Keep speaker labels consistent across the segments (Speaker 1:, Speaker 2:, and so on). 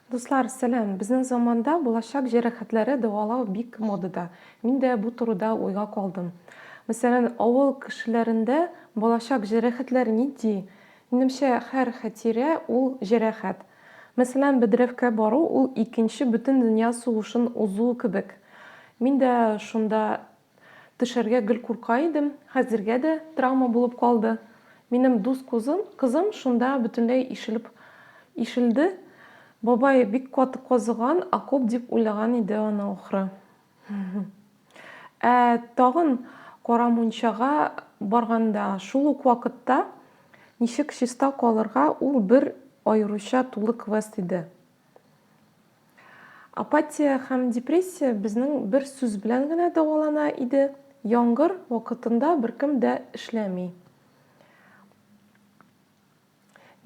Speaker 1: Дуслар, сәлам! Безнең заманда булачак җәрәхәтләре дәвалау бик модада. Мин дә бу турыда уйга калдым. Мәсәлән, авыл кешеләрендә балачак җәрәхәтләр нинди? Минемчә, һәр хәтирә ул җәрәхәт. Мәсәлән, бәдрәфкә бару ул икенче бөтен дөнья сугышын узу кебек. Мин дә шунда Төшәргә гел курка идем, хәзергә дә травма булып калды. Минем дус кузым, кызым шунда бөтенләй ишелеп ишелде. Бабай бик каты казыган окоп дип уйлаган иде аны ахры. Ә тагын Кара мунчага барганда, шул ук вакытта ничек чиста калырга, ул бер аеруча тулы квест иде. Апатия һәм депрессия безнең бер сүз белән генә дәвалана иде. Яңгыр вакытында беркем дә эшләми.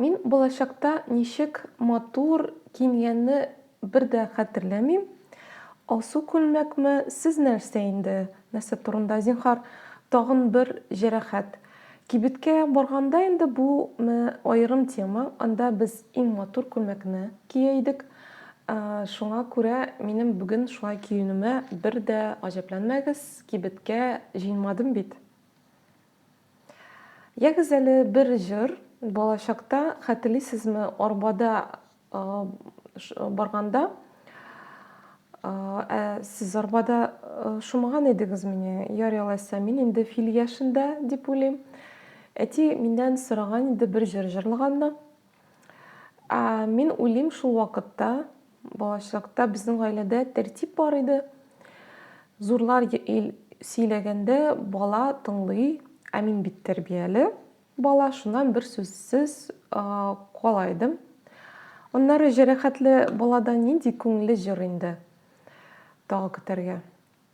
Speaker 1: Мин балачакта ничек матур киенгәнне бер дә хәтерләмим. Алсу күлмәкме, сез нәрсә инде, Нәрсә турында, зинһар? Тагын бер җәрәхәт. Кибеткә барганда инде бу аерым тема, анда без иң матур күлмәкне кия идек. Шуңа күрә минем бүген шулай киенүемә бер дә гаҗәпләнмәгез, кибеткә җыенмадым бит. Ягез әле бер җыр, балачакта, хәтерлисезме, арбада барганда, ә сез арбада шумаган идегез мени? Ярый алайса, мин инде фил яшендә, дип уйлыйм. Әти миннән сораган иде бер җыр җырлаганны. Ә, мин уйлыйм шул вакытта, балачакта безнең гаиләдә тәртип бар иде. Зурлар сөйләгәндә бала тыңлый, ә мин бит тәрбияле бала, шуннан бер сүзсез кала идем. Аннары җәрәхәтле баладан нинди күңелле җыр инде тагы көтәргә.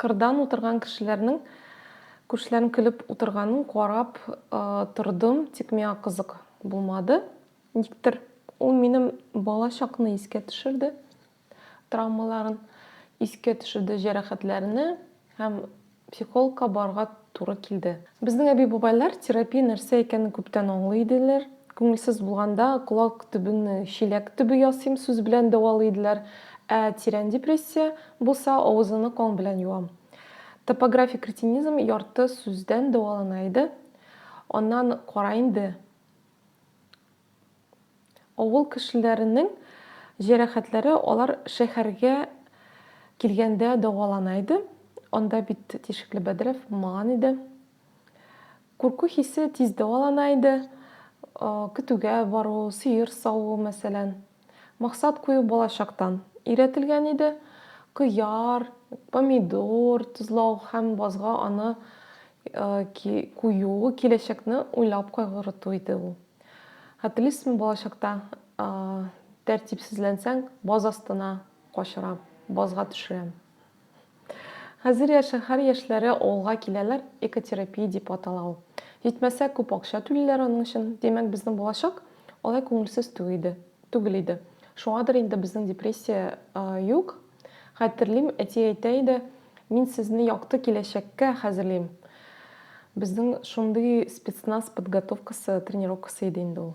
Speaker 1: Кырдан утырган кешеләрнең күршеләрнең көлеп утырганын карап тордым, тик миңа кызык булмады. Никтер ул минем бала чакны искә төшерде, травмаларын искә төшерде, җәрәхәтләрне һәм психологка барырга туры килде. Безнең әби-бабайлар терапия нәрсә икәнен күптән аңлый иделәр. Күңелсез булганда, колак төбен чиләк төбе ясыйм сүз белән дәвалый иделәр, ә тирән депрессия булса, авызыңны кан белән юам. Топографик ретинизм ярты сүздән дәвалана иде. Аннан кара инде. Авыл кешеләренең җәрәхәтләре алар шәһәргә килгәндә дәвалана иде. Анда бит тишекле бәдрәф булмаган иде. Курку хисе тиз дәвалана иде. Көтүгә бару, сыер саву, мәсәлән. Максат кую балачактан өйрәтелгән иде. Кыяр, помидор тозлау һәм базга аны кую, киләчәкне уйлап кайгырту иде ул. Хәтерлисезме, балачакта тәртипсезләнсәң, баз астына качырам, базга төшерәм. Хәзер я шәһәр яшьләре авылга киләләр, экотерапия дип атала ул. Җитмәсә, күп акча түлиләр аның өчен. Димәк, безнең балачак алай күңелсез тү иде, түгел иде. Шуңадыр инде безнең депрессия юк. Хәтерлим, әти әйтә иде, Мин сезне якты киләчәккә хәзерлим. Безнең шундый спецназ подготовкасы, тренировкасы иде инде ул.